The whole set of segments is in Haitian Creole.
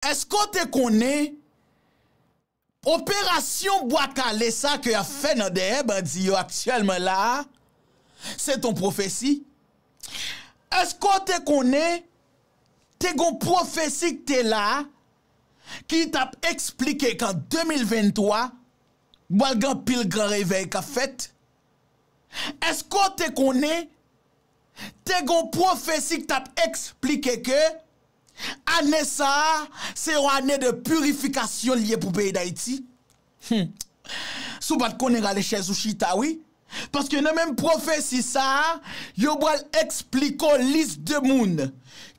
Eske w te konnen operasyon bwa kale sa ke yap fè nan dèyè bandi yo aktyèlman la a se ton pwofesi? Eske w te konnen te gon pwofesi k te la a ki tap eksplike kan 2023 bwal gen anpil gran revèy kap fèt? Eske w te konnen te gon pwofesi k tap eksplike ke Ane sa a, se yon ane de purifikasyon li ye pou peyi Dayiti. Hum! Si w pa t konnen rale chèz ou chita wi. Paske nan menm pwofesi sa a, yo pral esplike w lis de moun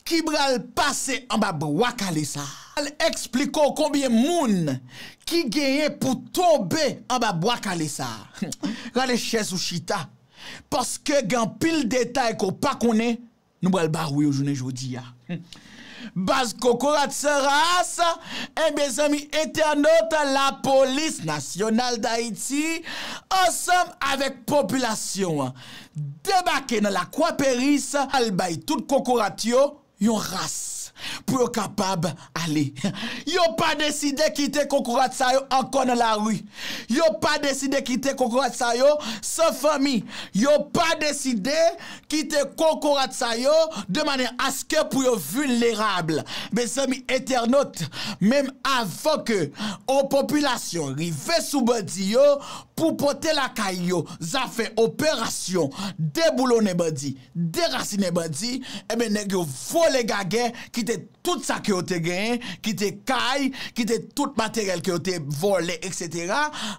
ki pral pase anba bwa kale sa a. Yo pral esplike w konbyen moun ki genyen pou tonbe anba bwa kale sa a. Hum! Rale chèz ou chita. Paske gen anpil detay ke w pa konnen. Nou pral ba ou yo jounen jodi a. Baz kokorat san ras, en mezanmi entènot lapolis nasyonal dayiti ansanm avèk popilasyon an debake nan lakwa peris al bay tout kokorat yo yon ras pou yo kapab ale yo pa deside kite kokorat sa yo ankò nan lari yo pa deside kite kokorat sa yo san fanmi yo pa deside Kite kokorat sa yo de manè aske pou yo vulnerab. Mezanmi entènot, menm avan ke on popilasyon rive sou bandi yo pou pote lakay yo zafè operasyon deboulonnen bandi, derasinen bandi, enben nèg yo vole gagè kite. Tout sa ke yo te genyen, ki te kay, ki te tout materyèl ke yo te vòlè etc.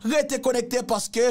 Rete konekte paske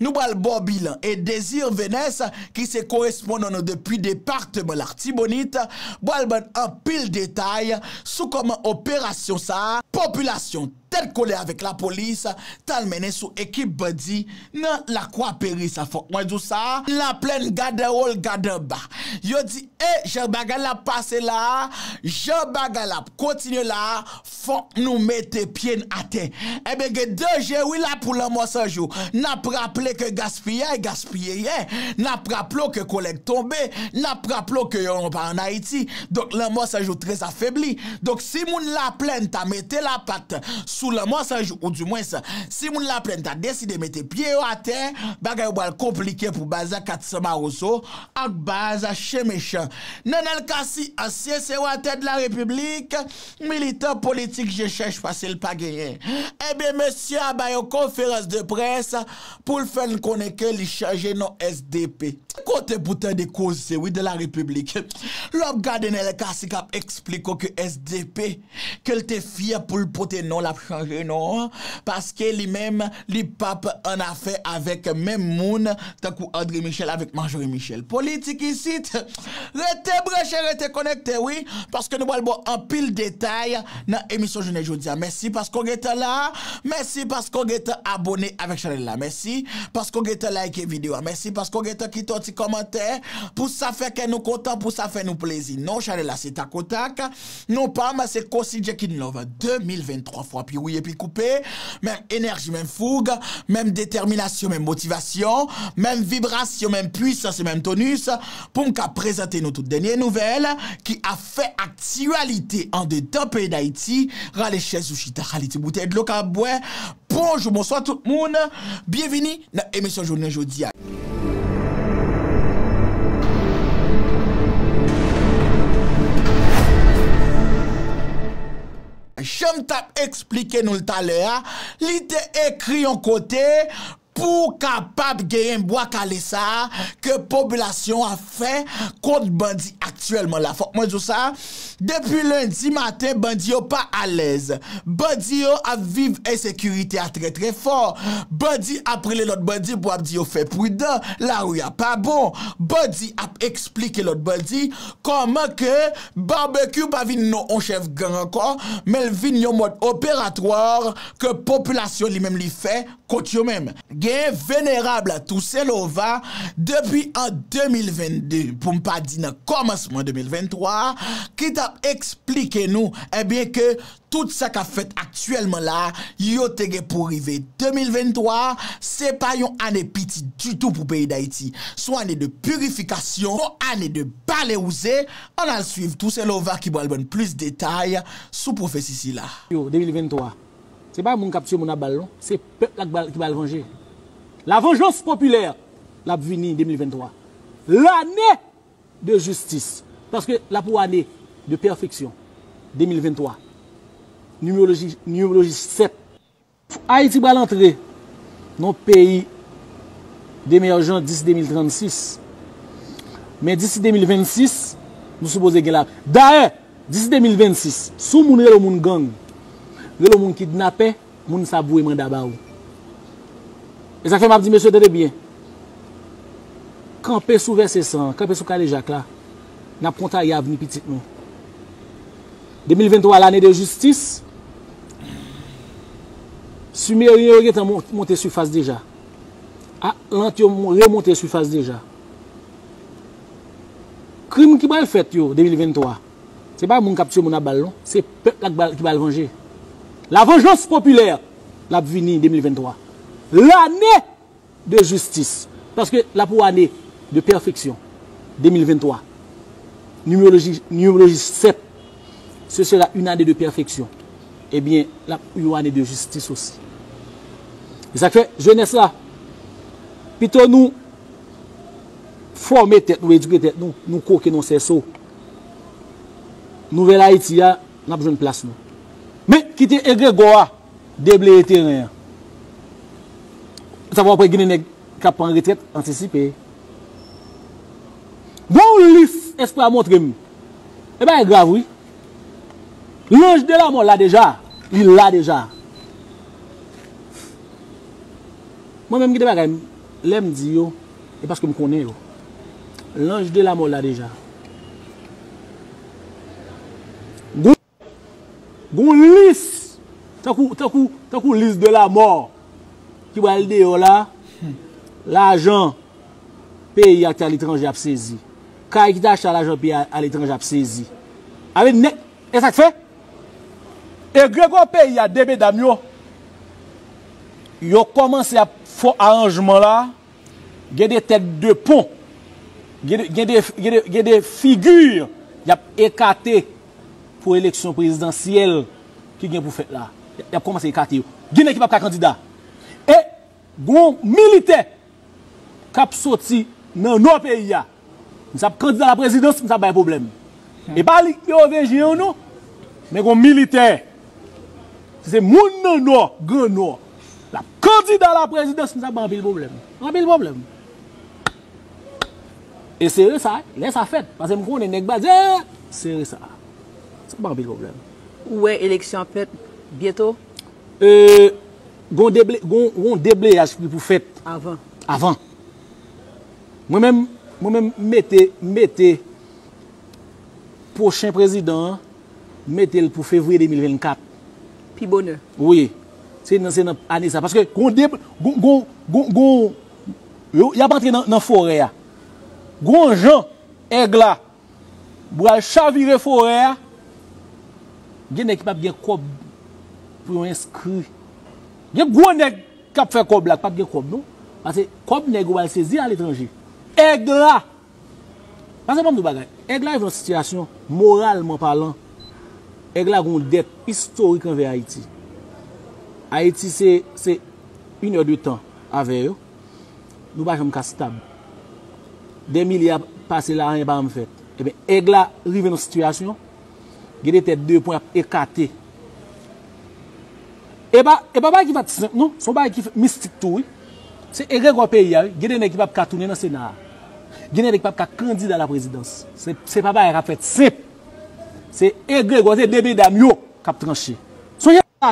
nou pral ba w bilan. E Désir Venès ki se korespondan nou depi departeman Lartibonit pral ban n anpil detay sou kòman operasyon sa a popilasyon tèt kole avèk lapolis, t al mennen sou ekip bandi nan Lakwa Peri sa. Fòk mwen di w sa, Laplèn gad anwo l gad anba. Yo di, E jan bagay la ap pase la a, jan bagay la ap kontinye la a, fòk nou mete pye n atè. Enben gen danje wi la pou lanmò san jou. N ap raple ke gaspiyay gaspiye yè. N ap raple w ke kolèg tonbe. N ap raple w ke yo pa an Ayiti. Donk lanmò san jou trèzafebli. Donk si moun Laplèn ta mete lapat sou Lanmò 100 jou ou dimwens si moun Laplèn ta deside mete pye yo atè, bagay yo pral konplike pou baz a 400 Mawozo ak baz a Chen Mechan. Nenel Cassy, ansyen sewatè de la Repiblik, militan politik je chèch pase l pa genyen. Enben mesye a bay yon konferans de près pou l fè n konnen ke li chanje non sdp. Gen kote pou tande koze wi de la République. Lè w ap gade Nènèl Cassy k ap esplike w ke sdp ke l te fyè pou l pote non l ap chanje non an paske li menm li p ap an afè avèk menm moun tankou André Michel avèk Marjorie Michel. Politik isit! Rete branche, rete konekte wi paske nou pral ba w anpil detay. nan emisyon jounen jodi a mèsi paske w gentan la mèsi paske w gentan abone avèk chanèl la mèsi paske w gentan like video a mèsi paske w gentan kite yon ti kòmantè pou sa fè kè nou kontan pou sa fè nou plezi non chanèl la se takotak non pa m se Cossy Jackinlove 2023 fwa pi wouye pi koupe menm enèji menm foug menm detèminasyon menm motivasyon menm vibrasyon menm pwisans e menm tonus pou m ka prezante nou tout dènye nouvèl ki a. fè aktyalite andedan peyi Dayiti, rale chèz ou chita, kalite boutèy dlo ka ap bwè. Bonjou, bonswa tout moun, byenvini nan emisyon jounen jodi a. Jan m t ap eksplike nou l talè a, li te ekri yon kote, Pou kapab genyen bwa kale sa a ke popilasyon an ap fè kont bandi aktyèlman la. Fòk mwen di w sa, depi lendi maten bandi yo pa alèz. Bandi yo ap viv ensekirite a trè trè fò. Bandi ap rele lòt bandi pou ap di yo fè pridan, lari a pa bon. Bandi ap esplike lòt bandi kòman ke Barbecue pa vin non on chèf gang ankò, men l vin yon mòd operatwar ke popilasyon li menm li fè. Kot yo menm? Gen Venerab Tousen Lova, depi an 2022, pou m pa di nan kòmansman 2023, ki t ap esplike nou ebyen ke tout sa k ap fèt aktyèlman la a, yo te gen pou rive 2023, se pa yon ane piti ditou pou peyi Dayiti. S on ane de pirifikasyon, s on ane de balewouze. An n al suiv Tousen Lova ki pral ban n plis detay sou pwofesi sila. Yo, 2023. Se pa moun kap tiye moun a bal non, se pèp la ki pral vanje. La vengeance populaire l ap vini 2023. Lane de jistis. Paske l ap yon ane de pèfeksyon 2023. Nimeoloji nimeoloji 7. Ayiti pral antre nan yon peyi demèjan disi 2036. Men disi 2026, nou sipoze gen la. Dayè, Disi 2026, si w moun rele w moun gang, rele w moun kidnapè, moun sa ap voye manda ba ou. E sa k fè m ap di mesye tande byen, kanpe sou vèse san an, kanpe sou kadejak la, n ap kontaye avni pitit nou. 2023 lane de jistis, simeryen yo gen tan monte sifas deja, atlant yo remonte sifas deja. Krim ki pral fèt yo 2023 se pa moun kap tye moun a bal non se pèp la ki pral vanje la vengeance populaire lap vini 2023 lane de justice paske la pou ane de perfection 2023 numerologie numerologie 7 ce sera une année de perfection ebyen lap yon ane de justice aussi esak fè jeunesse la pito nou Fòme tèt nou, edike tèt nou, nou kwoke nan sèso Nouvèl Ayiti a, n ap jwenn plas nou. Men, kite egregò a debleye teren an. Sa va w ap wè gen de nèg k ap pran retrèt antisipe. Gen yon lis Espri a montre m. E bagay grav wi. Lanj de lamò la deja. Li la deja. Mwen menm gen de bagay m Lè m di yo, e paske m konnen yo. Lanj de lamò la deja. Gon lis, tankou, tankou, tankou lis de lamò ki pral deyò la, lajan peyi a ki te aletranje ap sezi. Kay ki te achte a lajan peyi a aletranje ap sezi. Sa vle di nèg. Esak fè egregò peyi a 2 medam yo yo kòmanse ap fò aranjman la gen 2 tèt de pon gen 2 figi yap ekate pou eleksyon prezidansyèl ki gen pou fèt la yap kòmanse ekate yo ginen ki pap ka kandida e Gon militè kap soti nan nò peyi a misye ap kandida a la prezidans misye ap bay pwoblèm epa li ki ovejen yo non men gon militè si se moun nan nò gran nò lap kandida a la prezidans misye ap bay anpil pwoblèm anpil pwoblèm e sere sa lè sa fèt paske m konnen nèg ba di ee sere sa sa bay anpil pwoblèm. Ou wè eleksyon ap fèt byento? Ee. Gon yon debleyaj ki pou fèt avan. Mwen menm, mwen menm m mete, m mete pwochen prezidan an, m mete l pou fevriye 2024. Pi bonè. Wi. Se nan, se nan ane sa. Paske gon de, gon, gon, gon, gon, y ap antre nan forè a. Gon jan èg la Bwal chavire forè a. Gen nèg ki pap gen kòb pou yo enskri. Gen gwo nèg kap fè kòb la ki pap gen kòb non. Pase kòb nèg yo bal sezi aletranje. Èg la. Pase banm di w bagay. Èg la rive yon sitiyasyon moralman palan. Èg la gen yon dèt istorik anvè Ayiti. Ayiti se se inè de tan avè yo. Nou pa janm ka stab. Dè milye ap pase la anyen pa janm fèt. Ebyen Aigle la rive nan sitiyasyon gen de tèt de pwen ap ekate. E pa e pa bagay ki pat senp non, son bagay ki fèt mistik tou wi. Se egregò peyi a wi, gen de nèg ki pap ka tounen nan sena a. Gen de nèg ki pap ka kandida la prezidans. Se se pa bagay kap fèt senp. Se egregò se de medam yo kap tranche. Sonje sa.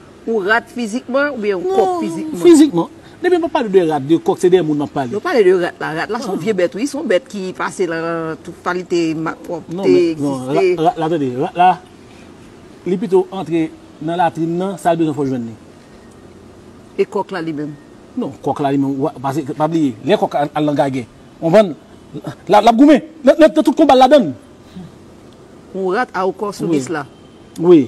Ou rat fizikman ou byen ou kòk fizikman? Non, fizikman. Depi m ap pale de rat, de kòk, se de moun m ap pale. Non pale de rat la. Rat la se yon vye bèt wi. Se yon bèt ki pase nan tout kalite malpwòpte, egziste. Non men, non, rat la tande, rat la, li pito antre nan latrin nan, sa l bezwen fò l jwenn li. E kòk la li menm? Non, kòk la li menm, pase, pa bliye, lè kòk al nan gagè, ou konprann, l ap goumen. Nan tout konba l ladann. Yon rat a yon kòk sou lis la? Wi.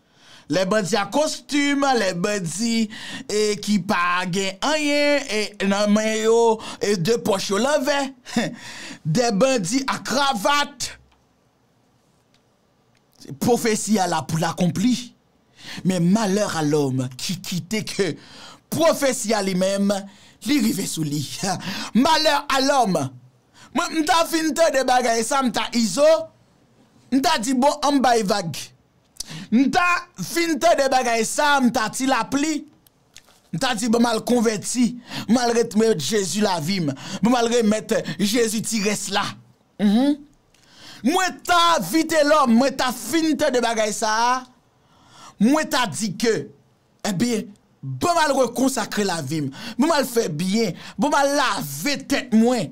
Lè bandi a kostim, lè bandi ki pa gen anyen nan men yo, de pòch yo lanvè, de bandi a kravat, pwofesi a la pou l akonpli. Men malè a lòm ki kite ke pwofesi a li menm li rive sou li. Malè a lòm! Mwen m ta fin tande bagay sa m ta izo, m ta di bon an m bay vag. M ta fin tande bagay sa a, m ta ti lapli, m ta di bon m al konvèti, m al retmèt Jezi lavi m, bon m al remèt Jezi ti rès la. Mwen ta Vitelòm, mwen ta fin tande bagay sa a, mwen ta di ke, enben, bon m al rekonsakre lavi m, bon m al fè byen, bon m al lave tèt mwen.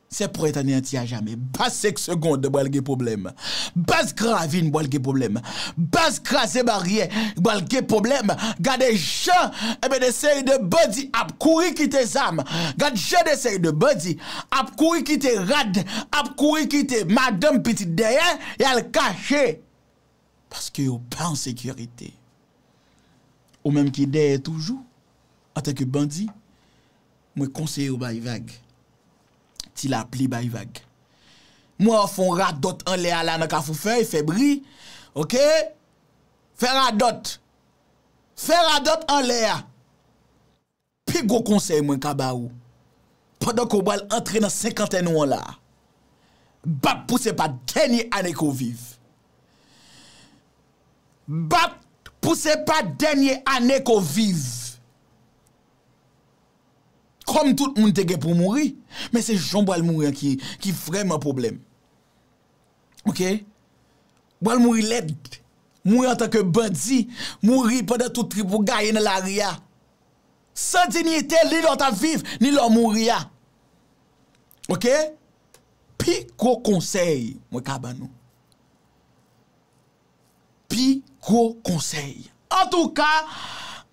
Se pret aneanti a jamè. Baz senk segond bal gen pwoblèm. Baz gravin bal gen pwoblèm. Baz kraze baryè bal gen pwoblèm. Gade jan enben de seri de bandi ap kouri kite zam. Gad jan de seri de bandi ap kouri kite rad, ap kouri kite madanm pitit dèyè, yal kache. Paske yo pa an sekirite. Ou menm ki dèyè toujou, antanke bandi, Mwen konseye w bay vag. Ti lapli bay vag. M wè w fè yon radòt anlè a la nan Kafou Fèy, fè bri. Ok! Fè radòt. Fè radòt anlè a. Pi gwo konsèy mwen ka ba ou, pandan ke w pral antre nan senkantèn ou an la, bat pou se pa dènye ane ke w viv. Bat pou se pa dènye ane ke w viv. Kòm tout moun te gen pou mouri, men se jan w pral mouri an ki vrèman pwoblèm. Ok? Ou pral mouri lèd. Mouri antan ke bandi, mouri pandan tout trip ou gaye nan lari a. San dinyite, ni lè w t ap viv, ni lè w mouri a. Ok? Pi gwo konsèy mwen ka ban nou. pi gwo konsèy. Antouka,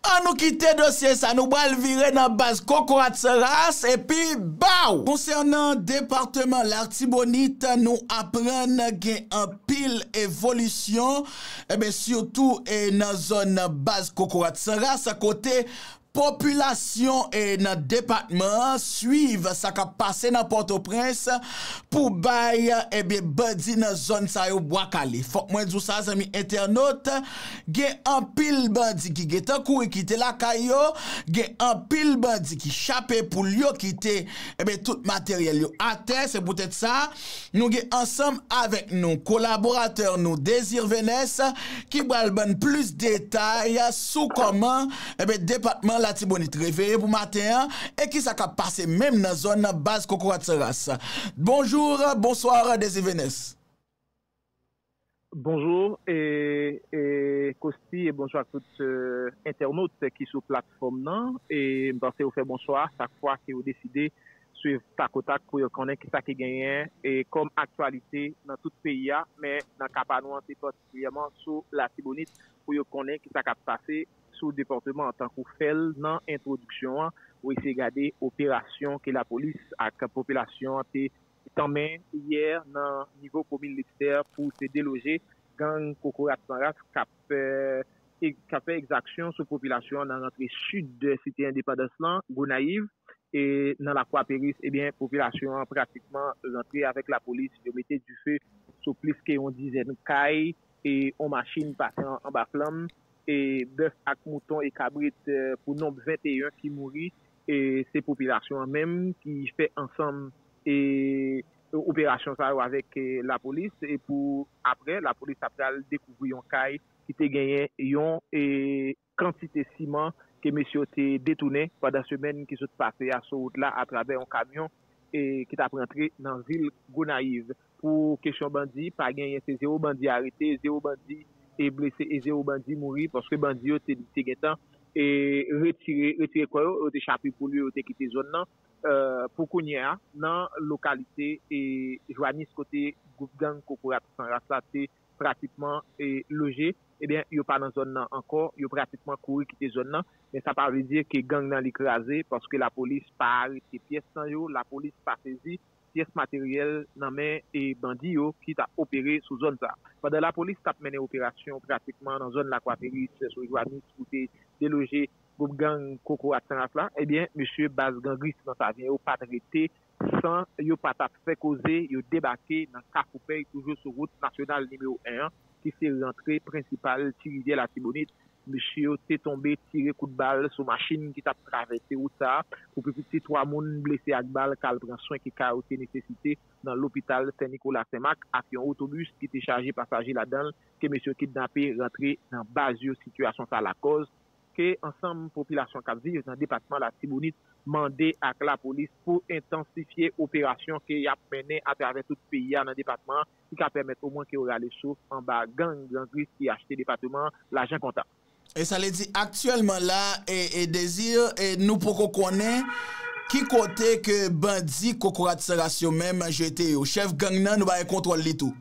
an nou kite dosye sa nou pral vire nan baz kokorat san ras epi baw! Konsènan departeman Lartibonit, nou aprann gen anpil evolisyon, sitou nan zòn baz kokorat san ras kote Popilasyon nan depatman an swiv sa k ap pase nan Pòtoprens pou bay ebyen bandi nan zòn sa yo bwa kale. Fòk mwen di w sa zanmi entènot, gen anpil bandi ki gentan kouri kite lakay yo, gen anpil bandi ki chape poul yo kite ebyen tout materyèl yo atè. Se poutèt sa nou gen ansanm avèk nou kolaboratè nou Désir Venès ki pral ban n plis detay sou kòman Enben depatman Latibonit reveye pou maten an e kisa kap pase menm nan zòn baz kokorat san ras? Bonjour, bonsoir Desivenes. Bonjour Costi e bonsoir ak tout entènot ki sou platfòm nan. M panse ou fè bon chwa chak fwa ke ou deside swiv Takotak pou yo konnen kisa ki genyen kòm aktyalite nan tout peyi a men nan ka pa nou an se patikilyèman sou Latibonit, pou yo konnen ki sa k ap pase sou depatman an. Tankou fè l nan entwodiksyon an, ou eseye gade operasyon ke lapolis ak popilasyon an te tanmen yè nan nivo komin Lestè pou te deloje gang kokorat san ras k ap k ap fè ekzaksyon sou popilasyon an nan rantre sid de site endepandans lan, Gonayiv, e nan Lakwa Peris, ebyen popilasyon an pratikman rantre avèk lapolis, yo mete dife sou plis ke yon dizèn kay, e yon machin pase anba flanm, e bèf ak mouton e kabrit pou nonb 21 ki mouri, e se popilasyon an menm ki fè ansanm e operasyon sa yo avèk lapolis, e pou aprè lapolis ta pral dekouvri yon kay ki te genyen yon kantite siman ke mesye yo te detounen pandan semèn ki sot pase a sou wout la atravè yon kamyon ki t ap rantre nan vil Gonayiv. Pou kesyon bandi, pa genyen, se zewo bandi arete, zewo bandi blese e zewo bandi mouri paske bandi yo te gen tan retire kò yo, yo te chape poul yo, yo te kite zòn nan. Pou kounye a, nan lokalite Jwanis kote gwoup gang Kokorat San Ras la te pratikman loje, ebyen yo pa nan zòn nan ankò, yo pratikman kouri kite zòn nan, men sa pa vle di ke gang nan li kraze, paske lapolis pa arete pyès nan yo, lapolis pa sezi pyès materyèl nan men bandi yo ki t ap opere sou zòn sa. Pandan lapolis t ap mennen operasyon pratikman nan zòn Lakwaperis, Sèso Jwanis pou te deloje gwoup gang Kokorat Sanras la, ebyen mesye baz gangris nan Savyen yo pa t rete San yo pa tap fè koze, yo debake nan Kafoupèy toujou sou wout nasyonal nimewo 1 an ki se rantre prensipal Ti Rivyè Latibonit. Mesye yo te tonbe tire kout bal sou machin ki tap travèse wout sa a. Pou pi piti 3 moun blese ak bal kal pran swen ki ka yo te nesesite nan lopital Sen Nikola Senmak ak yon otobis ki te chaje pasaje ladan l ke mesye yo kidnape rantre nan baz yo sitiyasyon sa lakòz ke ansanm popilasyon kap viv nan depatman Latibonit mande ak lapolis pou entansifye operasyon ke yap mennen atravè tout peyi a nan depatman an ki ka pèmèt omwen ke yo rale souf anba gang gran grif ki achte depateman an lajan kontan. E sa vle di aktyèlman la e Desir e nou poko konnen ki kote ke bandi kokorat san ras yo menm jete yo. Chèf gang nan nou pa gen kontwòl li tou?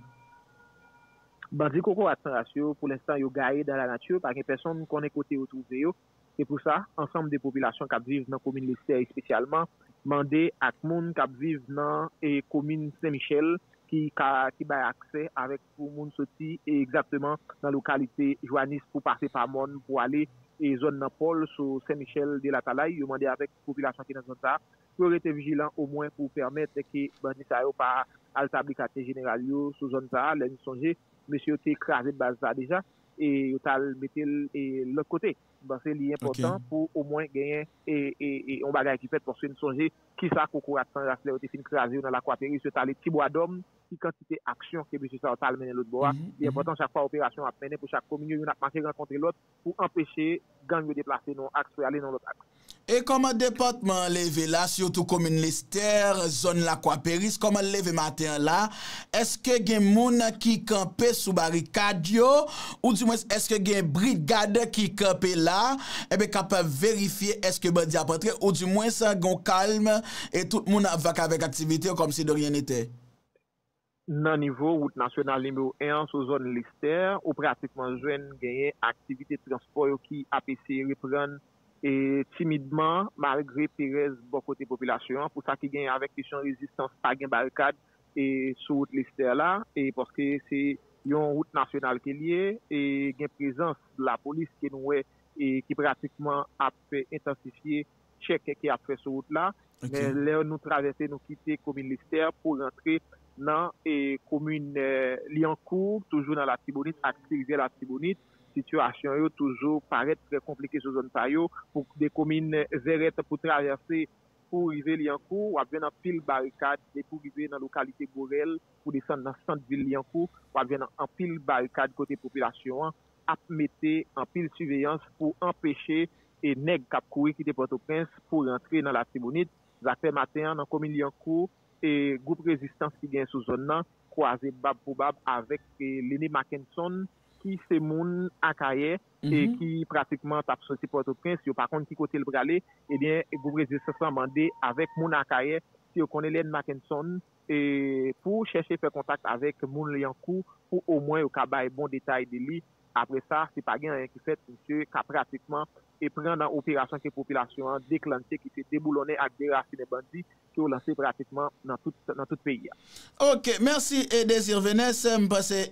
Bandi kokorat san ras yo, pou lenstan yo gaye dan la nati, pa gen pèsonn konnen kote yo twouve yo. Se pou sa, ansanm de popilasyon k ap viv nan komin Lestè espesyalman, mande ak moun k ap viv nan komin Sen Michèl ki ka ki bay aksè avèk pou moun soti egzatteman nan lokalite Jwanis pou pase pa mòn pou ale zòn nan Pòl sou Sen Michèl de Latalay, yo mande avèk popilasyon ki nan zòn sa pou yo rete vijilan omwen pou pèmèt ke bandi sa yo pa al tabli katye jeneral yo sou zòn sa a, lè n sonje mesye yo te kraze baz sa a deja e yo t al mete l lòt kote. M panse li enpòtan pou omwen genyen yon bagay ki fèt paske n sonje kisa kokorat san ras lè yo te fin kraze yo nan Lakwaperis yo t ale Tibwadòm, ki kantite aksyon ke mesye sa yo t al mennen lòtbò a. Li enpòtan chak fwa operasyon ap mennen pou chak komin yo youn ap mache rankontre lòt pou anpeche gang yo deplase nan yon aks pou y ale nan yon lòt aks. E kòman depatman an leve la sitou komin Lestè, zòn Lakwa Peris, kòman l leve maten an la? Èske gen moun ki kanpe sou barikad yo ou di mwens èske gen brigad ki kanpe la enben k ap verifye èske bandi ap antre ou di mwens gen yon kalm e tout moun ap vakabè ak aktivite yo kòmsi de ryen netè? Nan nivo wout nasyonal nimewo 1 an sou zòn Lestè, ou pratikman jwenn genyen aktivite transpò yo ki ap eseye reprann timidman malgre perèz bò kote popilasyon an pou sa ki genyen avèk kesyon rezistans pa gen barikad sou wout Lestè la paske se yon wout nasyonal ke li ye e gen prezans lapolis ke nou wè ki pratikman ap fè entansifye chèk ke yap fè sou wout la, men lè nou travèse nou kite komin Lestè pou rantre nan komin Lyankou toujou nan latibonit ak ti rivyè latibonit sitiyasyon yo toujou parèt trè konplike sou zòn sa yo pou de komin Vèrèt pou travèse pou rive Lyankou wap jwenn anpil barikad depi ou rive nan lokalite Borèl pou desann nan sant vil Lyankou wap jwenn anpil barikad kote popilasyon an ap mete anpil siveyans pou anpeche e nèg kap kouri kite Pòtoprens pou rantre nan Latibonit, zafè maten an nan komin Lyankou e gwoup rezistans ki gen sou zòn nan kwaze bab pou bab avèk e Lene Mackenson ki se moun Akayè e ki pratikman tap soti Pòtoprens yo pa konn ki kote l prale ebyen gwoup rezistans lan mande avèk moun Akayè si yo konnen Lene Mackenson pou chèche fè kontak avèk moun Lyankou pou omwen yo ka bay bon detay de li. Apre sa, si pa gen anyen ki fèt, misye ka pratikman pran nan operasyon ke popilasyon an deklanche ki se deboulonnen ak derasinen bandi ke yo lanse pratikman nan tout peyi a. Ok, mèsi Désir Venès. M panse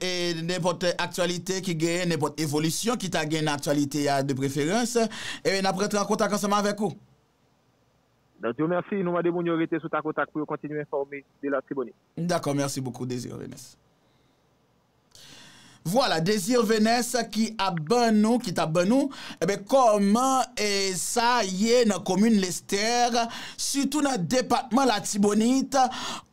nenpòt aktyalite ki genyen, nenpòt evolisyon ki ta gen nan aktyalite a de preferans, n ap rantre an kontak ansanm avèk ou. Nan Dieu merci, nou mande moun yo rete sou takotak pou yo kontinye enfòme de l'Artibonite. M dakò merci beaucoup Désir Vénès. Vwala Désir Vénès ki ap ban nou, ki tap ban nou, enben kòman sa ye nan komin Lestère, sitou nan depatman Latibonite,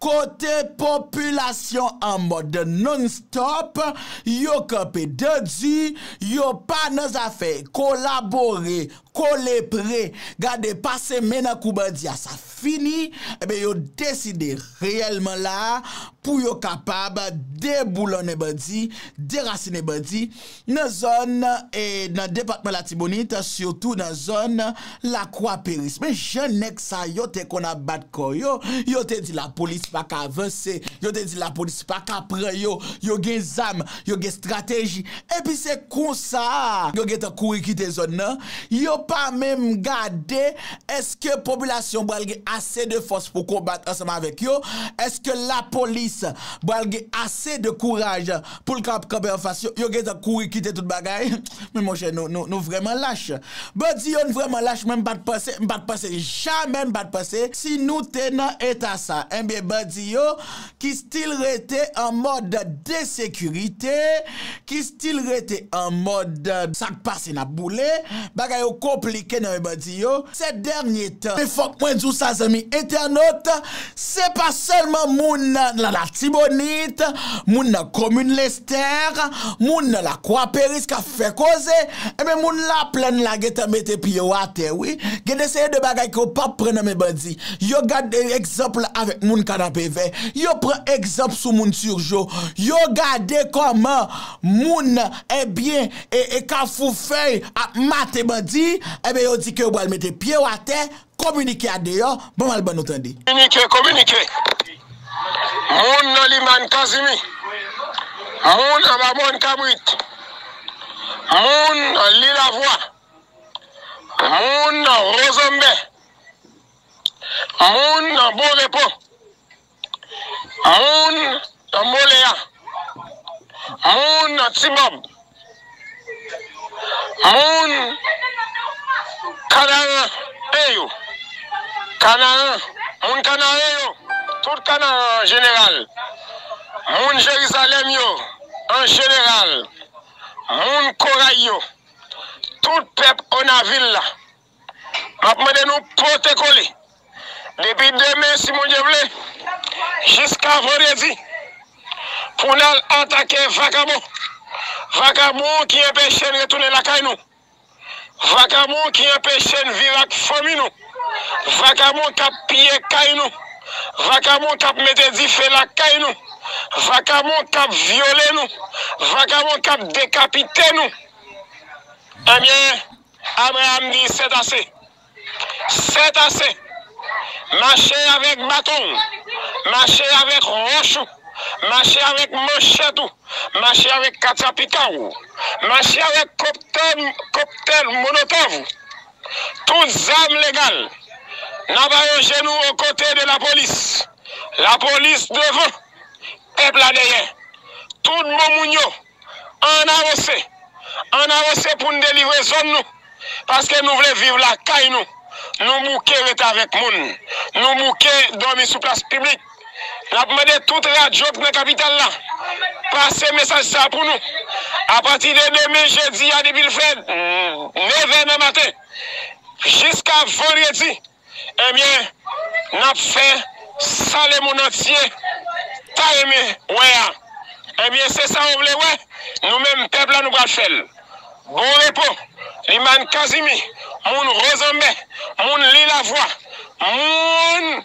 kote popilasyon an mòd non stop, yo kanpe dan di, yo pa nan zafè kolabore Kole pre, gade pase men nan kou bandi a sa fini, enben yo deside reyèlman la a pou yo kapab deboulonnen bandi, derasinen bandi nan zòn e nan depatman Latibonit sitou nan zòn Lakwa Peris. Men jan nèg sa yo te konn ap bat kò yo, yo te di lapolis pa ka vanse, yo te di lapolis pa ka pran yo, yo gen zam, yo gen strateji, epi se konsa a yo gentan kouri kite zòn nan, yo pa menm gade èske popilasyon an pral gen ase de fòs pou konbat ansanm avèk yo, èske lapolis pral gen ase de kouraj pou l kapab kanpe anfas yo, yo gentan kouri kite tout bagay, men monchè nou vrèman lach. Bandi yo n vrèman lach mwen m pa t panse, m pa t panse jamè m pa t panse si nou te nan eta sa, enben bandi yo ki stil rete an mòd de sekirite, ki stil rete an mòd sa k pase n ap boule, bagay yo konplike nan men bandi yo, sè dènye tan. Men fòk mwen di w sa zanmi entènot, se pa sèlman moun nan Latibonit, moun nan komin Lestè, moun nan Lakwa Peris k ap fè koze, enben moun Laplèn la gen tan mete pye yo atè wi, gen de seri de bagay ke w p ap pran nan men bandi. yo gade egzanp la avèk moun Kanapevè, yo pran egzanp sou moun Turgeau, yo gade kòman moun ebyen e Kafoufèy ap mate bandi, ebyen yo di ke yo pral mete pye yo atè, kominike a deyò, ban m al ban nou tande. Kominike, kominike! Moun nan Limann Kazimi, moun anba Mòn Kabrit, moun Lilavwa, moun Wozonbe, Moun nan bon repo. Moun nan molea. Moun nan tibob. Moun kanaran en yo. Kanaran. Moun kanaren yo. Tout kanaran an jeneral. Moun jerizalèm yo an jeneral. Moun koray yo. Tout pèp onavil la. Map mande nou pote kole depi demen si Bondye vle jiska vandredi pou nal atake vakabon vakabon ki enpeche n retounen lakay nou vakabon ki enpeche n viv ak fanmi nou vakabon kap piye kay nou vakabon kap mete dife lakay nou vakabon kap vyole nou vakabon kap dekapite nou ebyen Abraam di, Sèt ase! Sèt ase! Mache avèk baton ou, mache avèk wòch ou, mache avèk manchèt ou, mache avèk katyapika ou, mache avèk koptèl monotòv ou, tout zam legal, n ap aranje nou o kote de lapolis, lapolis devan, pèp la dèyè, tout bon moun yo. Ann avanse! Ann avanse pou n delivre zòn nou! Paske nou vle viv lakay nou! Nou bouke ret avèk moun! Nou bouke dòmi sou plas piblik! N ap mande tout radyo k nan kapital la pase mesaj sa pou nou! Apati de demen jedi a depi l fè nevè nan maten jiska vandredi, Ebyen nap fè sa le moun antye ta renmen wè a ebyen se sa yo vle wè nou menm pèp la nou pral fèl bon repo limàn kazimi moun rozanbe moun lilavwa moun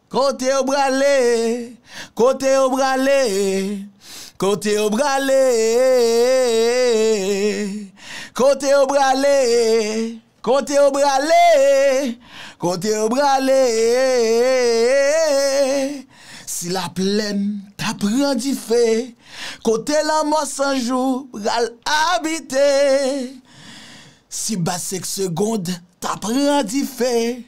Kote yo brale, kote yo brale, kote yo brale, kote yo brale, kote yo brale, kote yo brale, si la plèn ta pran dife, kote lanmò san jou pral abite, si bassek segond ta pran dife.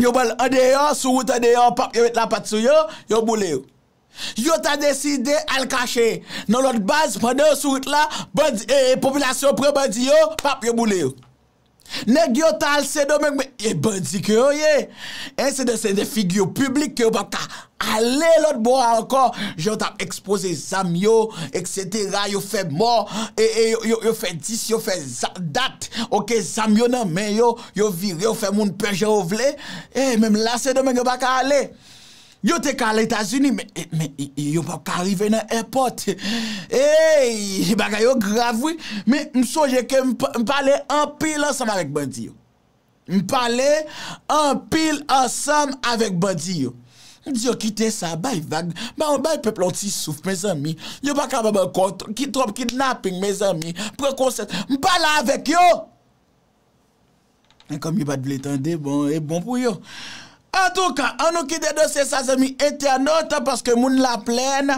Yo pran l andeyò, sou wout andeyò, pap yo met lapat sou yo, yo boule yo. Yo ta deside al kache nan lòt baz, pandan yo sou wout la, bandi, e, popilasyon pran bandi yo, pap yo boule yo. Nèg yo ta al Sendomeng, men, e bandi ke yo ye. E se de, se de figure publique ke yo pap ka ale lòt bò a ankò, jan yo tap ekspoze zam yo, et cetera, yo fè mò, e, e, yo fè dis, yo fè za, dat, oke, zam yo nan men yo, Yo vire yo fè moun pè jan yo vle. Ey menm la sendomeng yo pa ka ale. Yo te ka al etazini men yo pa ka rive nan èpòt. Eyy bagay yo grav wi. Men m sonje ke m pale anpil ansanm avèk bandi yo. M pale anpil ansanm avèk bandi yo. M di yo kite sa bay vag. Bay pèp la yon ti souf mezanmi. Yo pa kapab ankò. Ki twòp kidnaping mezanmi. Pran konsèns. M pale avèk yo. Men kòm yo pa t vle tande, bon, e bon pou yo. Antouka, an nou kite dosye sa zanmi entènot, paske moun laplèn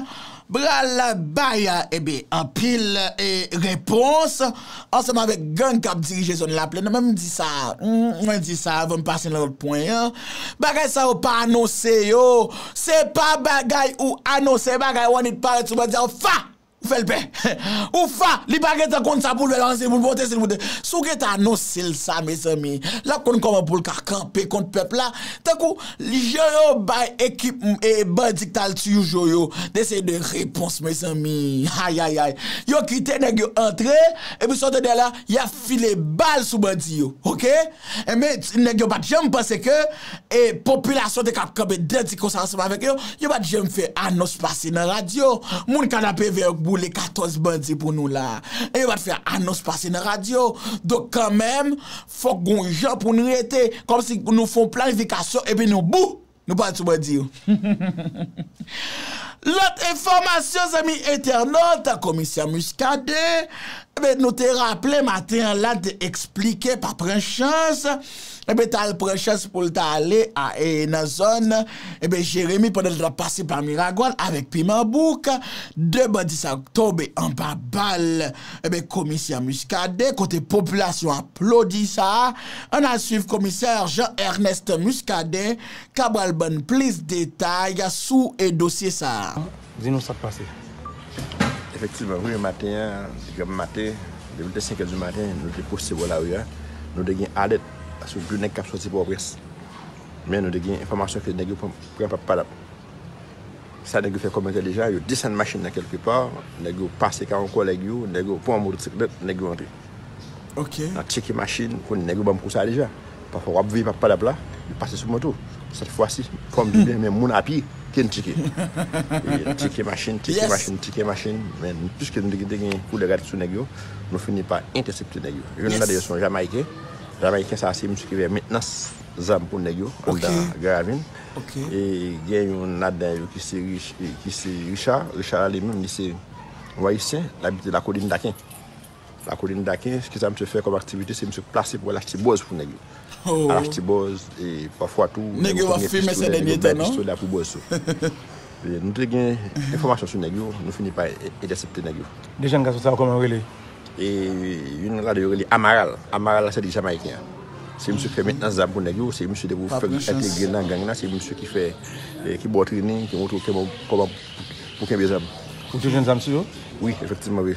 pral bay anpil repons ansanm avèk gang k ap dirije zòn laplèn nan. Men m di sa, mwen di sa avan m pase nan lòt pwen an, bagay sa yo pa anonse yo, se pa bagay ou anonse, se bagay w annik parèt sou banda w fa! Ou fèl pè. Ou fa! Li pa gentan konn sa poul fè lan se poul pote sil pote. Si w gentan anonsel sa mezanmi, lap konn kòman poul ka kanpe kont pèp la. Tankou jan yo bay ekip bandi ki tal tiyu jo yo de se de repons mezanmi. Ayayay. Yo kite nèg yo antre epi sa w tande la yap file bal sou bandi yo. Ok. Enben nèg yo pat janm panse ke. e popilasyon te kab kanpe dwèt di konsa ansanm avèk yo, yo pa t janm fè anons pase nan radyo, moun kanapevè yo k boule 14 bandi pou nou la a, e yo pa t fè anons pase nan radyo, donk kanmenm fòk gon jan pou n rete, kòm si nou fon planifikasyon epi nou bou! nou pale sou bandi yo. Lòt enfòmasyon zanmi entènot, komisè Muscadin, nou te raple maten an la te eksplike pa pran chans, Ebyen ta al pran chans poul ta ale a e nan zòn ebyen Jeremi pandan li tap pase pa Miragwàn avèk piman bouk 2 bandi sa yo k tonbe anba bal ebyen komisè Muscadin kote popilasyon aplodi sa ann al swiv komisè Jean Ernest Muscadin ka bal bann plis detay sou e dosye sa. Di nou sak pase. Efektivman wi maten an te gen mate depi l te 5 è di maten nou te poste bò lari a nou te gen alèt sou 2 nèg kap sòti pòwprens men nou te gen enfòmasyon ke nèg yo pran pa padap sa nèg yo fè kòmantè deja yo desann machin nan kèlke pa nèg yo pase ka yon kòlèg yo nèg yo pran yon motosiklèt nèg yo antre. N ap tyeke machin, konn nèg yo ban m kou sa deja. Pafwa w ap veye pap padap la, yo pase sou moto. Sèt fwa si, fò m di byen men moun apye ke n tyeke. N tyeke machin, tyeke machin, tyeke machin, men piske nou te gen kou de rad sou nèg yo, nou fini pa entèsepte nèg yo. Youn nan dèyè se yon Jamayiken. Jamayiken sa a se misye ki fè mentnans zam pou nèg yo anndan Garavin. E gen youn ladan yo ki se Richa. Richa li menm li se yon Ayisyen, li abite Lakolin Daken. Lakolin Daken, kisa msye fè kòm aktivite se msye plase pou al achte bòz pou nèg yo. Al achte bòz e pafwa tou nèg yo konn gen pistolet, nèg yo bay pistolet la pou bòz tou. Nou te gen enfòmasyon sou nèg yo, nou fini pa entèsepte nèg yo. De jenn gason sa yo kòman yo rele? E youn nan ladan yo rele Amaral. Amaral la se de Jamayiken an. Se msye ki fè mentnans zam pou nèg yo, se msye depi ou fèk entegre nan gang la se msye ki fè, ki ba w trening, ki montre w kòman pou kenbe zam. Ou te jwenn zam sou yo? Wi, efektivman wi.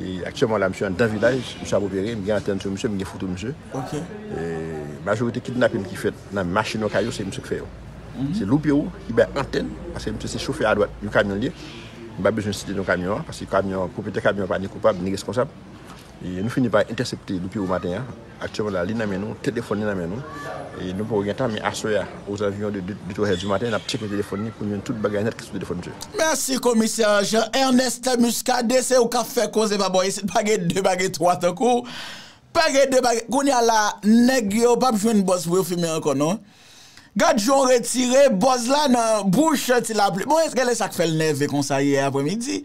E aktyèman la misye anndan vilaj, misye ap opere, m gen antèn sou misye, m gen foto misye. E majorite kidnapin ki fèt nan machin yo, kay yo, se misye k fè yo. Se Louperou ki bay antèn, paske misye se chofè adwat yon kamyon l ye. M pa bezwen site non kamyon an, paske kamyon an, pwopriyetè kamyon an pa ni koupab ni reskonsab. E nou fini pa entèsepte Louperou maten an. Aktyèlman la, li nan men nou, telefòn li nan men nou. E nou poko gen tan, men aswè a, ozanviyon de 2, 3 è di maten, n'ap tcheke telefòn li pou n'jwenn tout bagay nèt ki sou telefòn msye. Mèsi komisè Jean Ernest Muscadin se ou kap fè koze pa bò isit pa gen 2 pa gen 3 tankouw pa gen 2 pa gen kounya la nèg yo pap jwenn bòs pou yo fimen ankò non. Gad jan w retire bòz la nan bouch Ti Lapli. Bon eske lè sa k fè l nève konsa yè apremidi?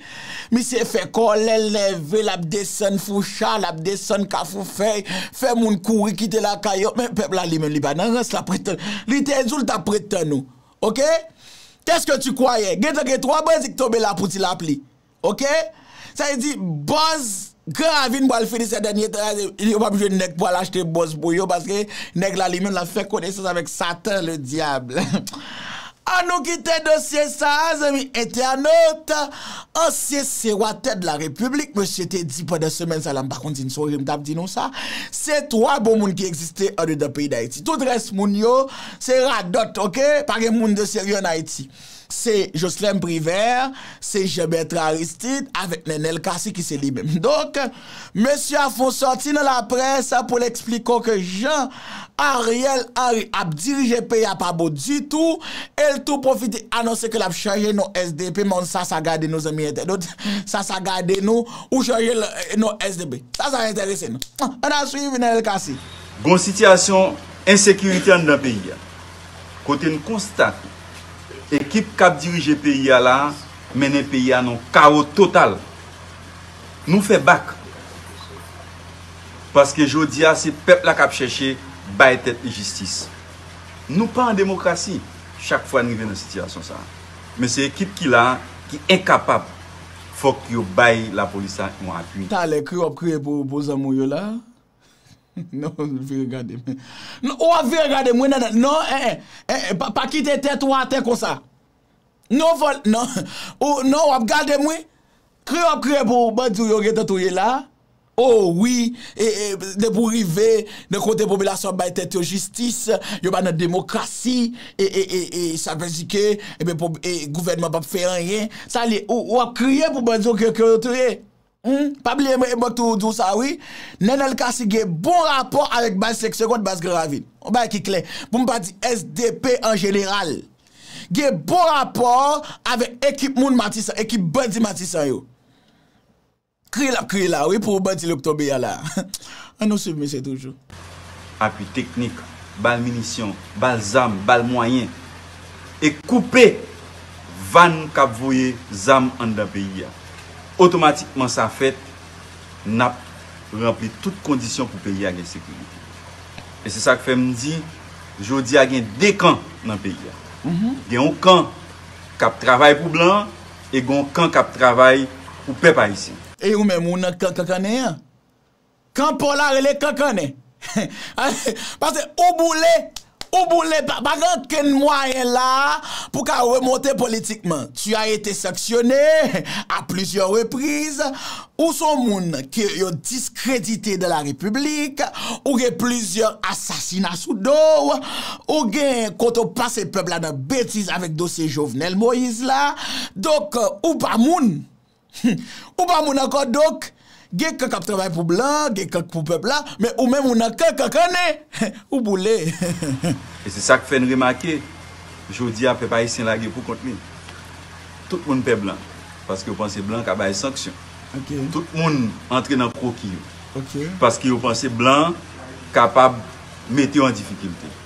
Misye fè kòlè l nève l ap desann Foucha, l ap desann Kafoufèy, fè moun kouri kite lakay yo. Men pèp la li menm li pa nan rans, l ap ret tann. Li te di w l t ap ret tann ou. Ok? Kèske ti kwayè? Gentan gen 3 bandi k tonbe la pou Ti Lapli. Ok sa vle di bòz gran ravin pwal fini sè dènye tan yo pap jwenn nèg pwal achte bòz pou yo paske nèg la li menm lap fè konesans avèk satan le diable an nou kite dosye sa zanmi entènot ansyen sewatè de la repiblik mesye te di pandan semèn sa la mpa konn si n sonje mtap di nou sa se 3 bon moun ki egziste andedan peyi dayiti tout rès moun yo se radòt ok pa gen moun de serye an ayiti. se Joslèm Privè, se Jan Bètran Aristid avèk Nènèl Kasi ki se li menm. Donk, mesye a fon sòti nan laprès pou l eksplike w ke jan Ariel Henry ap dirije peyi a pa bon ditou e l tou pwofite anonse ke l ap chanje non sdp men sa sa gade nou zanmi entènot, sa sa gade nou, ou chanje non sdp. Sa sa enterese nou? An a swiv Nènèl Kasi. Gon sitiyasyon ensekirite anndan peyi a. kote n konstate ekip kap dirije peyi a la mennen peyi a nan yon kawo total. Nou fè bak paske jodi a se pèp la kap chèche bay tèt li jistis. Nou pa an demokrasi chak fwa n rive nan sitiyasyon sa a. Men se ekip ki la ki enkapab fòk yo bay lapolis la yon apui. Talè kreyò ap kreye pou zanmi w yo la. Non l vire gade m. Non ou ap vire gade m wi nènèl. Non eh eh eh pa kite tèt ou atè konsa. Non fò l non ou non w ap gade m wi. Kriye w ap kriye pou bandi w yo gentan touye la. Oh wi eh eh depi w rive nan kote popilasyon ap bay tèt yo jistis, yo pa nan demokrasi eh eh eh eh sa vle di ke eh eh gouvènman p ap fè anyen. Sa l ye ou ap kriye pou bandi w yo ke yo touye. Humm pa bliye mwen ebòk tou ou diw sa wi Nenel Cassy gen bon rapò avèk baz 5 segond baz gran ravin yon bagay ki klè poum pa di sdp an jeneral gen bon rapò avèk ekip moun matisan ekip bandi matisan yo kriye lap kriye la wi pou bandi li yo k tonbe a la an nou swiv misye toujou. Apui teknik, ba l minisyon, ba l zam, ba l mwayen, e koupe vàn k ap voye zam anndan peyi a. Otomatikman sa fèt, n ap ranpli tout kondisyon pou peyi a gen sekirite. E se sa k fè m di, jodi a gen de kan nan peyi a. Gen yon kan k ap travay pou blan an e gen yon kan k ap travay pou pèp ayisyen. E ou menm, ou nan kan kankannen an? Kan paw la rele kankannen. Pase ou boule, ou boule pa pa gen okenn mwayen la a pou ka remonte politikman. Tu as été sanctionné à plusieurs reprises, ou son moun ke yo diskredite dans la République, ou gen plizyè asasina sou do w, ou gen kote w pase pèp la nan betiz avèk dosye Jovenel Moïse la, donk ou pa moun. Humm ou pa moun ankò donk gen kan kap travay pou blan gen kan k pou pèp la men ou menm ou nan kan kankannen ou boule humm. E se sak fè n remake jodi a pèp ayisyen lage pou kont li tout moun pè blan paske yo panse blan ka bay sanksyon tout moun antre nan kwoki yo paske yo panse blan kapab mete yo an difikilte.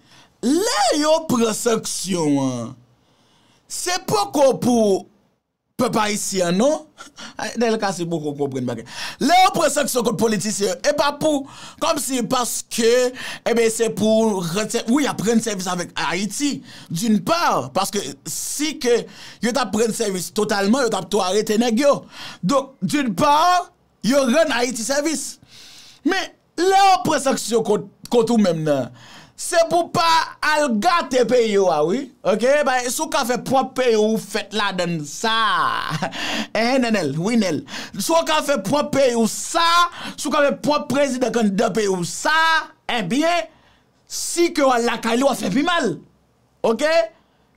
Lè yo pran sanksyon an se poko pou pèp ayisyen an non, Nel Cassy poko konprann bagay, lè yo pran sanksyon kont politisyen yo e pa pou kòmsi paske eben se pou rann sèvis, wi y ap rann sèvis avèk Ayiti d'une part paske si ke yo ta pran sèvis totalman yo t ap tou arete nèg yo donk d'une part yo rann Ayiti sèvis men Lè yo pran sanksyon kont kont ou menm nan se pou pa al gate peyi ou a wi ok bay si w ka fè pwòp peyi w ou fèt ladann sa enhen Nènèl wi Nèl si w ka fè pwòp peyi w sa si w ka fè pwòp prezidan kandidan peyi w sa enbyen si ke w al lakay li w ap fè pi mal. Ok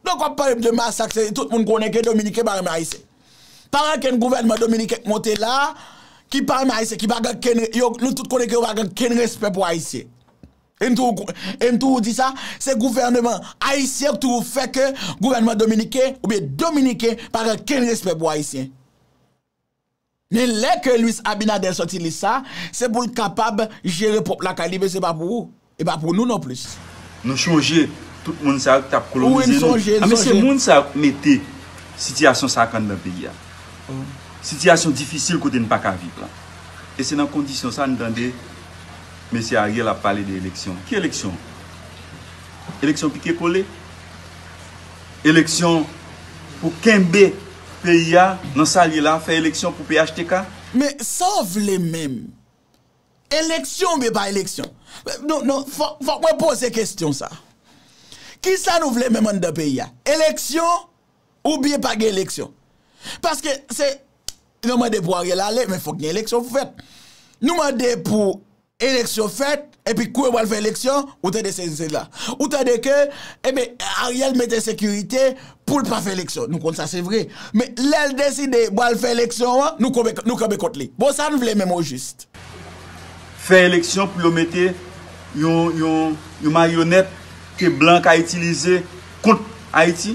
donk wap pale m de masak se tout moun konnen ke dominiken pa renmen ayisyen pa gen okenn gouvènman dominiken k monte la ki pa renmen ayisyen ki pa gen okenn yo nou tout konnen ke yo pa gen okenn respè pou ayisyen e m toujou e m toujou di sa se gouvèneman ayisyen k toujou fè ke gouvènman dominiken oubyen dominiken pa gen okenn respè pou ayisyen. Men lè ke Luis Abinader sòti lis sa, se pou l kapab jere pwòp lakay li men se pa pou ou, e pa pou nou non plis. Nou chonje tout moun sa yo ki tap kolonize nou. A men se moun sa yo ki mete sitiyasyon sa ak anndan peyi a. Sitiyasyon difisil kote n pa ka viv la. E se nan kondisyon sa nou tande Mesye Ariel ap pale de eleksyon. Ki eleksyon? Eleksyon pike kole? Eleksyon pou kenbe? Peyi a nan sal ye la fè eleksyon pou phtk. Men sa w vle menm? Eleksyon oubyen pa eleksyon? Non, non, fòk mwen poze kestyon sa. Kisa nou vle menm anndan peyi a? Eleksyon oubyen pa gen eleksyon? Paske se, nou mande pou Ariel ale, men fòk gen eleksyon pou fèt. Nou mande pou Eleksyon fèt, epi kou yo pral fè eleksyon, ou tande sezi sela. Ou tande ke, enben, Ariel mete sekirite pou l pa fè eleksyon. Nou konn sa se vre. Men, lè l deside pral fè eleksyon an, nou konbe, nou kanbe kont li. Bon, sa n vle menm ojist? Fè eleksyon pou yo mete yon, yon, yon maryonèt ke blan ka itilize kont Ayiti?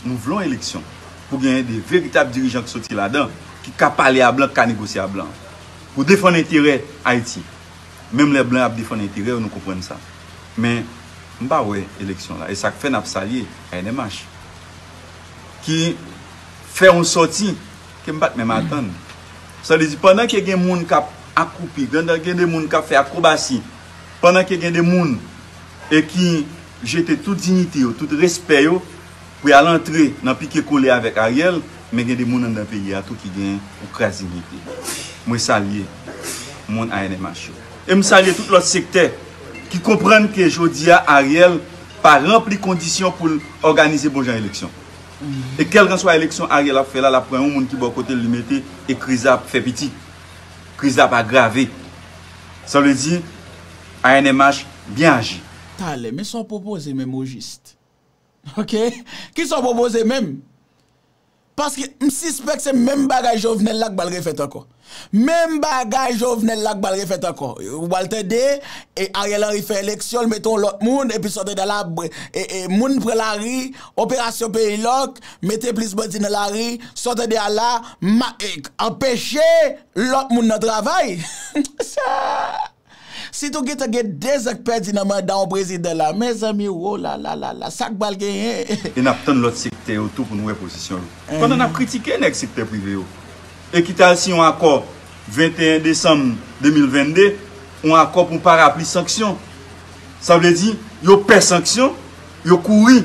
Nou vle yon eleksyon pou genyen de veritab dirijan ki soti ladan, ki ka pale a blan, ki ka negosye a blan. Pou defann enterè Ayiti. Menm lè blan ap defann enterè yo nou konprann sa. Men m pa wè eleksyon la. E sa k fè n ap salye ANMH ki fè yon sòti ke m pa t menm atann. Sa vle di pandan ke gen moun k ap akoupi, pandan gen de moun k ap fè akrobasi, pandan ke gen de moun e ki jete tout dignite yo, tout respè yo, Pou yal antre nan pike kole avek Ariel men gen de moun andan peyi a tou ki gen yon kras dignite. Mwen salye moun ANMH yo. E m salye tout lot sektè ki konprann ke jodi a Ariel pa ranpli kondisyon pou l òganize bon jan eleksyon. E kelkanswa eleksyon Ariel ap fè la lap pran yon moun ki bò kote l li mete e kriz la ap fè piti. Kriz la ap agrave. Sa vle di ANMH byen aji. Talè, men sa w pwopoze menm ojist? Ok kisa w pwopoze menm? Paske m sispèk se menm bagay Jovenel la k pral refèt ankò. Menm bagay Jovenel la k pral refèt ankò. Ou pral tande Ariel Henry fè eleksyon, l mete yon lòt moun, epi sòt andan la, moun pran lari, operasyon peyi lòk, mete plis bandi nan lari, sòt andan a la, anpeche lòt moun nan travay. Sa! Sitou gentan gen 2 zan k pèdi nan manda yon prezidan la mezanmi woo lalalala sak bal genyen. E nap tann lòt sektè yo tou pou nou wè pozisyon yo. Pandan nap kritike nèg sektè prive yo e ki t al siyen yon akò 21 desanm 2022, yon akò pou yon parapli sanksyon. Sa vle di yo pè sanksyon, yo kouri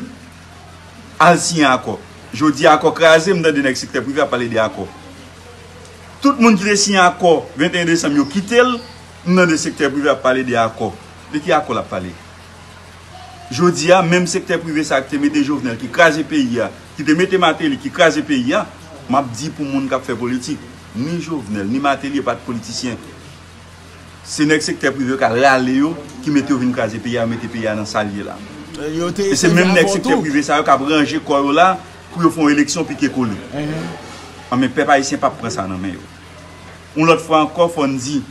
al siyen akò. Jodi a akò kraze, m tande nèg sektè prive ap pale de akò. Tout moun ki te siyen akò 21 desanm yo kite l, m tande sektè prive ap pale de akò. De ki akò l ap pale? Jodi a menm sektè prive sa a ki te mete Jovenel, ki kraze peyi a, ki te mete Martelly, ki kraze peyi a, m ap di pou moun k ap fè politik, ni Jovenel, ni Martelly e pa t politisyen. Se nèg sektè prive yo k al rale yo, ki mete yo vin kraze peyi a, mete peyi a nan sa l ye la. E se menm nèg sektè prive sa yo k ap ranje kò yo la, Pou yo fè yon eleksyon pike kole. Anben pèp ayisyen pap pran sa nan men yo. Yon lòt fwa ankò fò n di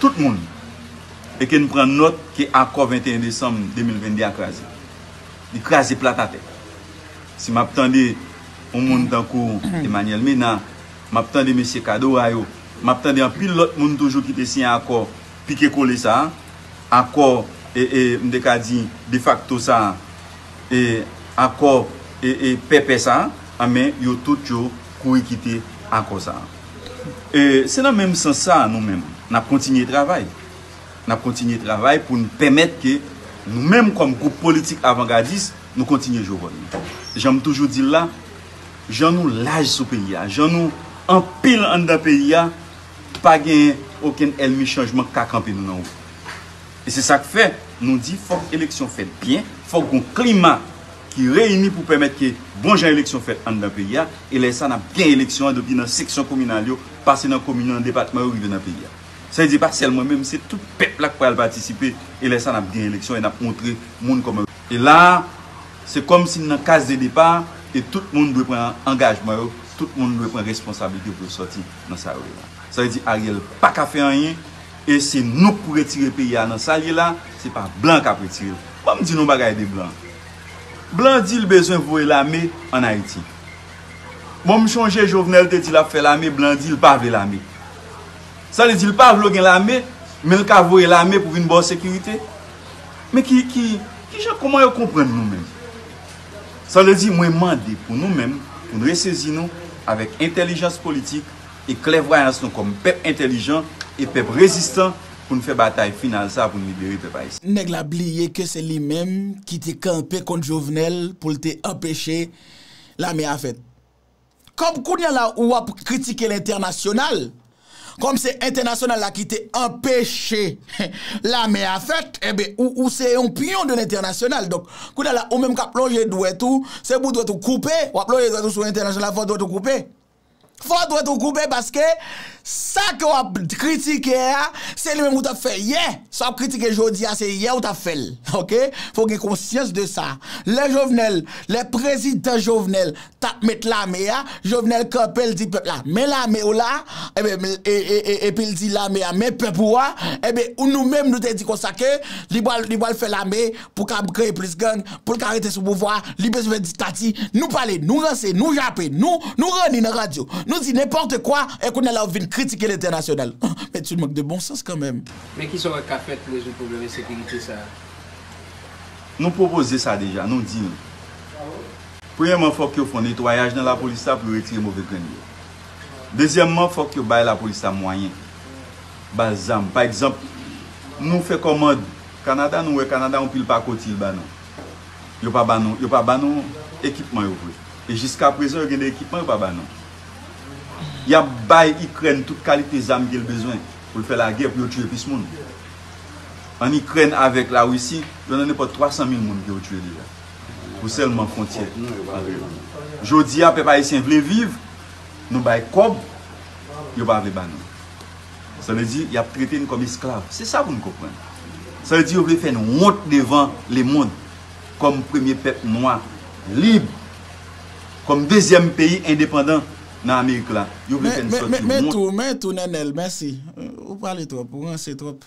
tout moun e ke n pran nòt ke akò 21 desanm 2022 a kraze. Li kraze plat atè. Si m ap tande yon moun tankou Emanyèl Mena, m ap tande mesye Kadora yo, m ap tande anpil lòt moun toujou ki te siyen akò pike kole sa a, akò e e m te ka di defakto sa a, akò pèpè sa a, anben yo tout yo kouri kite akò sa a. Se nan menm sans sa a nou menm, n ap kontinye travay. N ap kontinye travay pou n pèmèt ke nou menm kòm gwoup politik avangadis, nou kontinye jwe wòl nou. Jan m toujou di l la, jan nou laj sou peyi a, jan nou anpil anndan peyi a, pa gen okenn èlmi chanjman k ka kanpe nou nan wout. E se sa k fè, nou di fòk eleksyon fèt byen, fòk gon klima ki reyini pou pèmèt ke bon jan eleksyon fèt anndan peyi a, e lè sa n ap gen eleksyon an depi nan seksyon kominal yo, pase nan komin yo, nan depatman yo, rive nan peyi a. Sa vle di pa sèl mwen menm, se tout pèp la k pral patisipe, e lè sa n ap gen eleksyon e n ap montre moun kòman. E la a, se kòm si n nan kaz de depa, e tout moun dwe pran angajman yo, tout moun dwe pran responsablite pou yo sòti nan sa yo ye la. Sa vle di Ariel pa ka fè anyen. E se nou k pou retire peyi a nan sa l ye la, se pa blan k ap retire l. Ban m di nou yon bagay de blan. Blan di l bezwen voye lame ann Ayiti. Bon, m chonje Jovenel te di l ap fè lame, blan di l pa vle lame. Sa vle di l pa vle gen lame, men l ka voye lame pou vin ba w sekirite? Men ki, ki, ki jan, kouman yo konprann nou menm? Sa vle di mwen mande pou nou menm, pou n resezi nou avèk entèlijans politik, e klèvwayans nou kòm pèp entèlijan e pèp rezistan pou n fè batay final sa pou n libere pèp ayisyen. Nèg la bliye ke se li menm ki te kanpe kont Jovenel pou l te anpeche lame a fèt. Kòm kounya la ou ap kritike lentènasyonal, kòm se entènasyonal la ki te anpeche lame a fèt, enben ou se yon pyon de lentènasyonal. Donk, kounya la ou menm k ap lonje dwèt ou, se pou dwèt ou koupe, w ap lonje dwèt ou sou lentènasyonal fò dwèt ou koupe. Fò dwèt ou koupe paske sa ke w ap kritike a se li menm ou t ap fè yè. Sa w ap kritike jodi a se yè ou t ap fè l. Ok. Fò w gen konsyans de sa. Lè Jovenel, lè prezidan Jovenel t ap met lame a, Jovenel kanpe l di pèp la men lame w la, enben epi l di lame a men pèp ou a, enben nou menm nou te di konsa ke li pral fè lame pou kab kreye plis gang, pou l ka rete sou pouvwa a, li bezwen fè diktati, nou pale, nou ranse, nou jape, nou, nou ranni nan radyo, nou di nenpòte kwa, e kounye a la ou vin kritike l entènasyonal. Men t youn mank de bon sans kanmenm. Men kisa w wè k ka fèt pou rezoud pwoblèm ensekirite sa a? Nou pwopoze sa deja, nou di l. Premyèman fòk yo fon netwayaj nan lapolis la pou yo retire move grenn yo. Dezyèmman fòk yo bay lapolis la mwayen, ba l zam. Pa egzanp, nou fè kòmand. Canada nou wè Canada yon pil pakoti l ba nou yo pa ba nou yo pa ba nou ekipman yo vre e jiska prezan yo gen de ekipman yo pa ba nou yap bay ikrèn tout kalite zam ke l bezwen pou l fè lagè pou yo tiye plis moun an ikrèn avèk la risi yo nan nenpòt 300 mil moun ke yo tiye deja pou sèlman fontyè jodi a pèp ayisyen vle viv nou bay kòb yo pa vle ba nou. Sa vle di, y ap trete n kòm esklav. Se sa pou n konprann. Sa vle di yo vle fè n wont devan lemond kòm premye pèp nwa lib, kòm dezyèm peyi endepandan nan Amerik la. Yo vle fè n sòti wont. Men tou, men tou, Nenel, mèsi. Ou pale twòp, ou ranse twòp.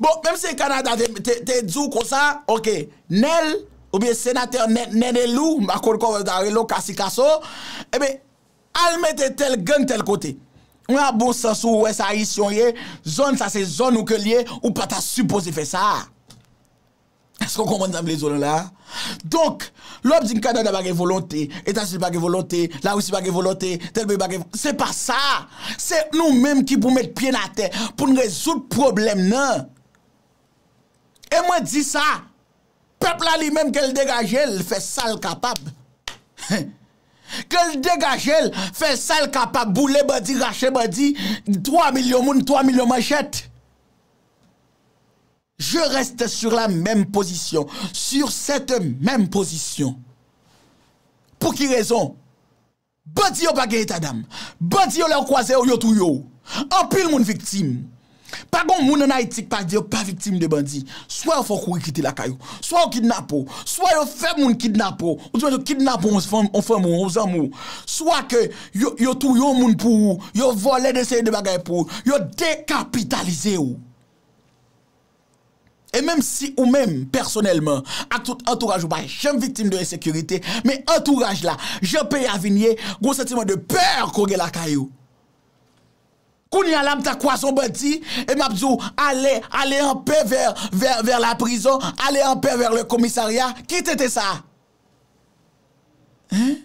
Bon menm se Canada te diw konsa ok Nel oubyen senatè Nenelou m pa konn koman yo ta rele w kasi kaso ebyen al mete tel gang tel kote ou nan bon sans ou wè sa ayisyen w ye zòn sa se zòn ou ke l ye ou pa ta sipoze fè sa. Èske w konprann sa m vle di w la a? Donk, lè w ap di m Kanada pa gen volonte, Etazini pa gen volonte, Larisi pa gen volonte, tèl peyi pa gen volonte, se pa sa! Se nou menm ki pou met pye n atè pou n rezoud pwoblèm nan. E mwen di sa, pèp la li menm ke l degaje l fè sa l kapab. Ke l degaje l fè sa l kapab, boule bandi, rache bandi, 3 milyon moun, 3 milyon manchèt. Je reste sur la meme position, sur cette meme position. Pou ki rezon? Bandi yo pa gen eta dam. Bandi yo lè yo kwaze yo, yo touye yo. Anpil moun viktim. Pa gen yon moun an Ayiti ki pa di yo pa viktim de bandi. Swa yo fè w kouri kite lakay ou, swa yo kidnape w, swa yo fè moun kidnape w, ou dimanche yo kidnape yon fanm, yon fanmi w, yon zanmi w, swa ke yo touye yon moun pou ou, yo vòlè de seri de bagay pou ou, yo dekapitalize ou. E menm si ou menm pèsonèlman ak tout antouraj ou pa janm viktim de ensekirite, men antouraj la, jan peyi a vin ye, gwo santiman de pè ko gen lakay ou. Kounye a la m ta kwaz on bandi e m ap di ou ale, ale an pè vè, vè, vè la prizon, ale an pè vè le komisarya, ki tenten sa a? Hein?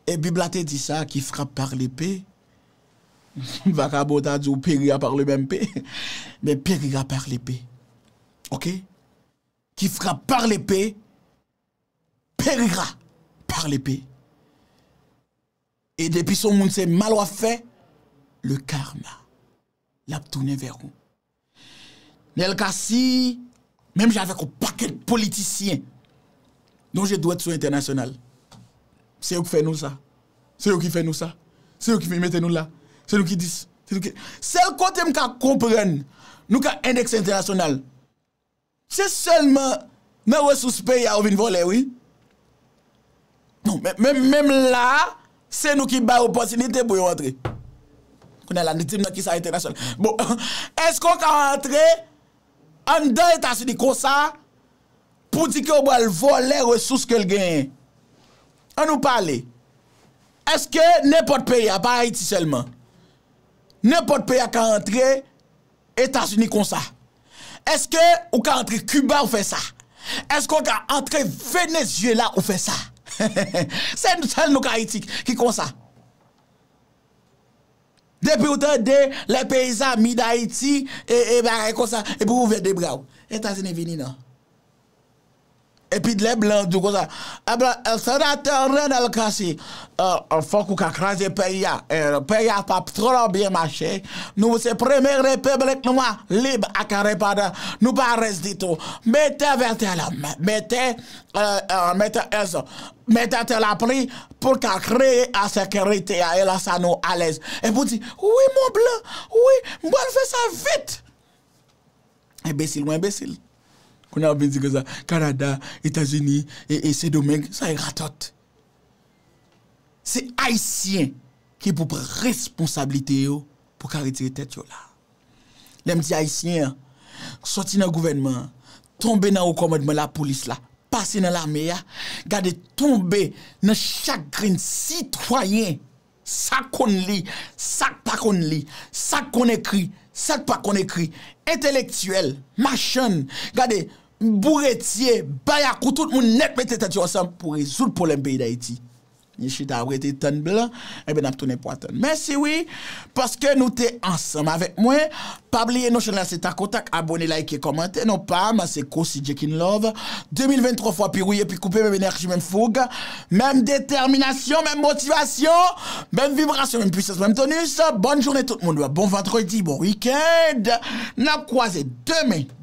E bib la te di sa, ki frappe par l'epe, Vakabon ta di w peri a parle menm pe men peri a parle pe ok ki fra parle pe peri a parle pe e depi son moun se mal wap fè le karma lap tounen vè ou. Nel Cassy, menm jan avèk yon pakèt politisyen, nou je dwèt sou entènasyonal. Se yo ki fè nou sa. Se yo ki fè nou sa. Se yo ki vin mete nou la. Se nou ki dis. Sèl kote m ka konprann nou ka endèkse entènasyonal. Se selman nan resous peyi a yo vin volè wi. Menm la a, se nou ki bay opotinite pou yo antre. Kounya la, di m nan kisa entènasyonal. Bon, eske ou ka antre anndan Etazini konsa pou di ke ou pral volè resous ke l genyen? An nou pale. Eske nenpòt peyi a, pa Ayiti selman. Nenpòt peyi a ka antre Etazini konsa? Eske ou ka antre Kiba ou fè sa? Eske ou ka antre Venezyela ou fè sa? Se sèl nou Kayiti ki konsa. Depi ou tande lè peyi zami Dayiti e bagay konsa, epi ou ouvè de bra ou. Etazini vini nan. Epi lè blan di w konsa, ebyen senatè Renel Cassy, fòk ou ka kraze peyi a, peyi a pap twò byen mache, nou se premye repiblik nwa lib ak endepandan, nou pa rès ditou, mete Vètèlèm, mete Èzò, mete Tèlapli pou l ka kreye ensekirite a e lè sa nou alèz. Epi w di, wi mon blan, wi, m pral fè sa vit! Enbesil ou enbesil. Kounye a wap vin di konsa Canada, Etazini, e Sendomeng sa e ratot. Se Ayisyen ki pou pran responsabilite yo pou ka retire tèt yo la. Lè m di Ayisyen an, soti nan gouvènman an, tonbe nan wo kòmandman lapolis la, pase nan lame a, gade tonbe nan chak grenn sitwayen. Sa k konn li, sa k pa konn li, sa k konn ekri, sa k pa konn ekri, entelektyèl, machann, gade, bouretye, bayakou, tout moun nèt mete tèt yo ansanm pou rezoud pwoblèm peyi Dayiti. Ni chita ap rete tann blan, enben n ap tounen pwa tann. Mèsi wi, paske nou te ansanm avèk mwen. Pa bliye non chanèl se takotak abone like kòmante non pam se Cossy Jekinlove 2020 3 fwa pi rouye pi koupe menm enèji menm foug menm detèminasyon menm motivasyon menm vibrasyon menm pwisans menm tonus bòn jounen tout moun bon vandredi bon weekend nap kwaze demen